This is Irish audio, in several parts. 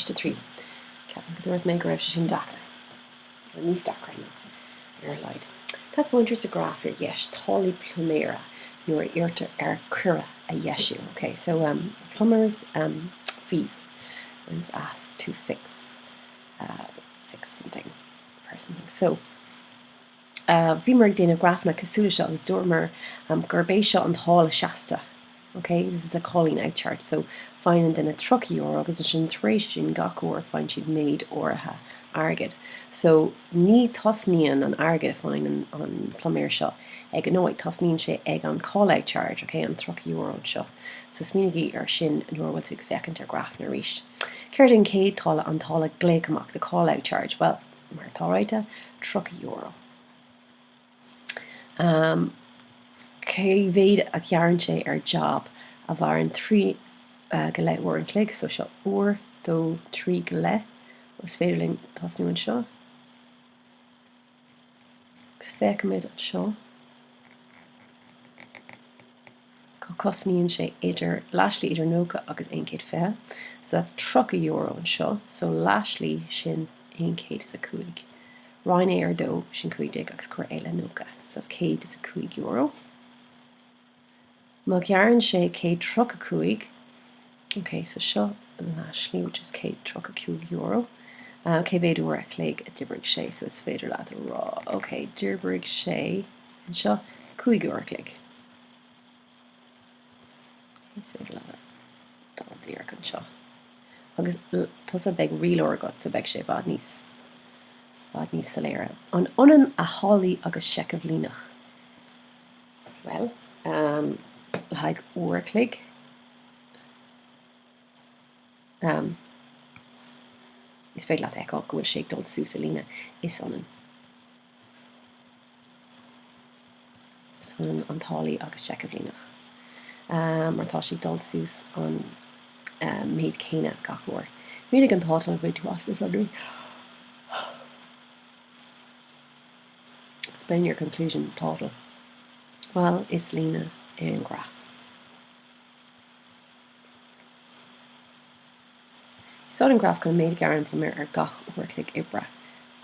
Ceist 3. Ceapaim go dúirt mé go raibh sé sin deacair. Nó níos deacra nó, ar a laghad. Taispeáintear sa ghraf ar dheis táillí pluiméara nuair a iarrtar air coire a dheisiú. Ok, so um plumber's um fees when he's asked to fix uh fix something, repair something. So. Bhíomar ag déanamh grafanna cosúil le seo agus dúramar gurb é seo an táille seasta, ok, this is a calling out charge, so faigheann an duine €30 agus ansin tar éis sin gach uair faigheann siad méid áirithe airgid. So ní tosnaíonn an airgead a faigheann an pluiméir seo ag an náid, tosnaíonn sé ag an call out charge, ok, an €30 seo. So smaoinigí air sin nuair a bhfuil tú ag féachaint ar grafanna arís. Céard é an chéad táille, an táille glaoch amach, the call out charge? Bhuel. mar atá ráite, €30. Amm, cé mhéad a ghearrann sé ar jab a mhaireann trí go leith uair an chloig? So seo uair, dó, trí go leith. Is féidir linn tosnú anseo. Agus feicimid anseo. Cosnaíonn sé idir, leathslí idir 90 agus 120, so that's €30 anseo, so leathslí sin 105. Roinn é ar dó, sin 15 agus cuir é le 90, so that's €105. Má ghearrann sé 100 tríocha cúig, ok, so seo leathslí which is 100 tríocha cúig euro, cé mhéad uair a chloig a d'oibrigh sé, so is féidir leat a rá, ok, d'oibrigh sé anseo cúig uair a chloig. Agus tusa beidh rialóir agat so beidh sé i bhfad níos, bhfad níos soiléire. An ionann a tháillí agus seicheamh líneach? Bhuel, le haghaidh uair a chloig, is féidir leat a fheiceáil go bhfuil sé ag dul suas an líne. Is ionann. Is ionann an táillí agus seicheamh líneach mar tá sé ag dul suas an méid céanna gach uair. Mínigh an tátal a bhain tú as na sonraí. Explain your conclusion, tátal. Bhuel, is líne é an graf. Úsáid an graf chun an méid a ghearrann pluiméir ar gach uair a chloig oibre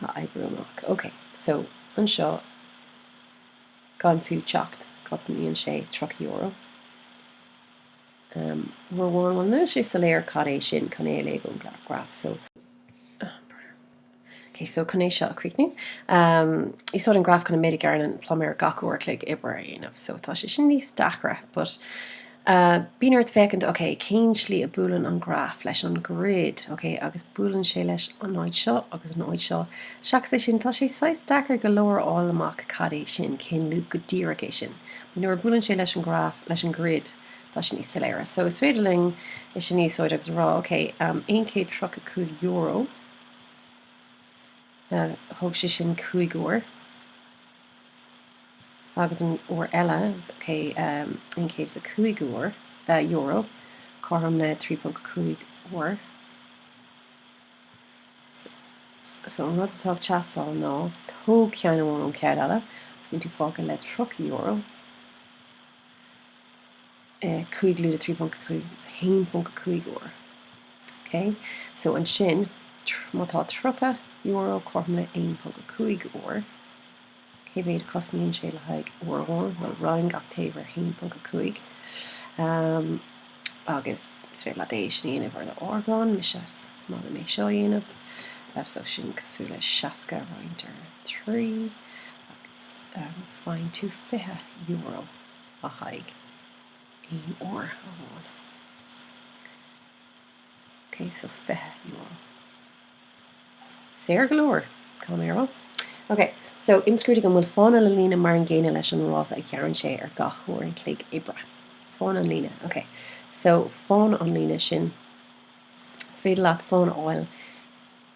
a oibriú amach. OK. So, anseo, gan fiú teacht, cosnaíonn sé tríocha euro. Umm, uair amháin, bhuel, níl sé soiléir cad é sin, chun é a léamh ón graf. So, umm, brother. Okay, so chun é seo a chríochnú, um, úsáid an graf chun an méid a ghearrann an pluiméir gach uair a chloig oibre a dhéanamh. So tá sé sin níos deacra, but uh, bíonn ort féachaint, okay, cén slí a buaileann an graf leis an grid, okay, agus buaileann sé leis an áit seo agus an áit seo. Seachas é sin, tá sé saghas deacair go leor a fháil amach cad é sin, cén luach go díreach é sin. But nuair a buaileann sé leis an graf, leis an grid, tá sé níos soiléire. So is féidir linn é sin a úsáid agus a rá, okay, um, €135 Thóg sé sin cúig uair agus an uair eile, €105, cothrom le 3.5 uair. So, an rud atá ag teastáil ná tóg ceann amháin ón cheann eile, so bíonn tú fágtha le €30. 5 lúide 3.5 is 1.5 uair ok so ansin má tá €30 cothrom le 1.5 uair cé mhéad a chosnaíonn sé le haghaidh uair amháin bhuel roinn gach taobh ar 1.5 um, agus is féidir leat é sin a dhéanamh ar do áireamhán mise is maith liom é seo a dhéanamh uh, so sin cosúil le 60 roinnt ar 3 agus um, faigheann tú 20 euro le haghaidh aon uair amháin. Okay, so €20. Saor go leor, caithfidh mé a rá. Okay, so imscrúdaigh an bhfuil fána na líne mar an gcéanna leis an ráta a ghearrann sé ar gach uair an chloig oibre. Fána an líne, okay. So fána an líne sin, is féidir leat fána a fháil,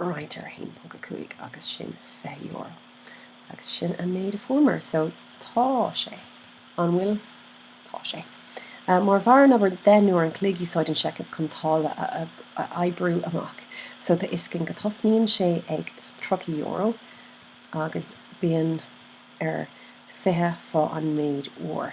roinnt ar 1.5 agus sin €20 agus sin an méid a fuaireamar so tá sé, an bhfuil? tá sé. Má mhair an obair deich n-uair an chloig úsáid an seicheamh chun táille a oibriú amach so tá a fhios againn go tosnaíonn sé ag €30 agus bíonn ar fiche fá an méid uair.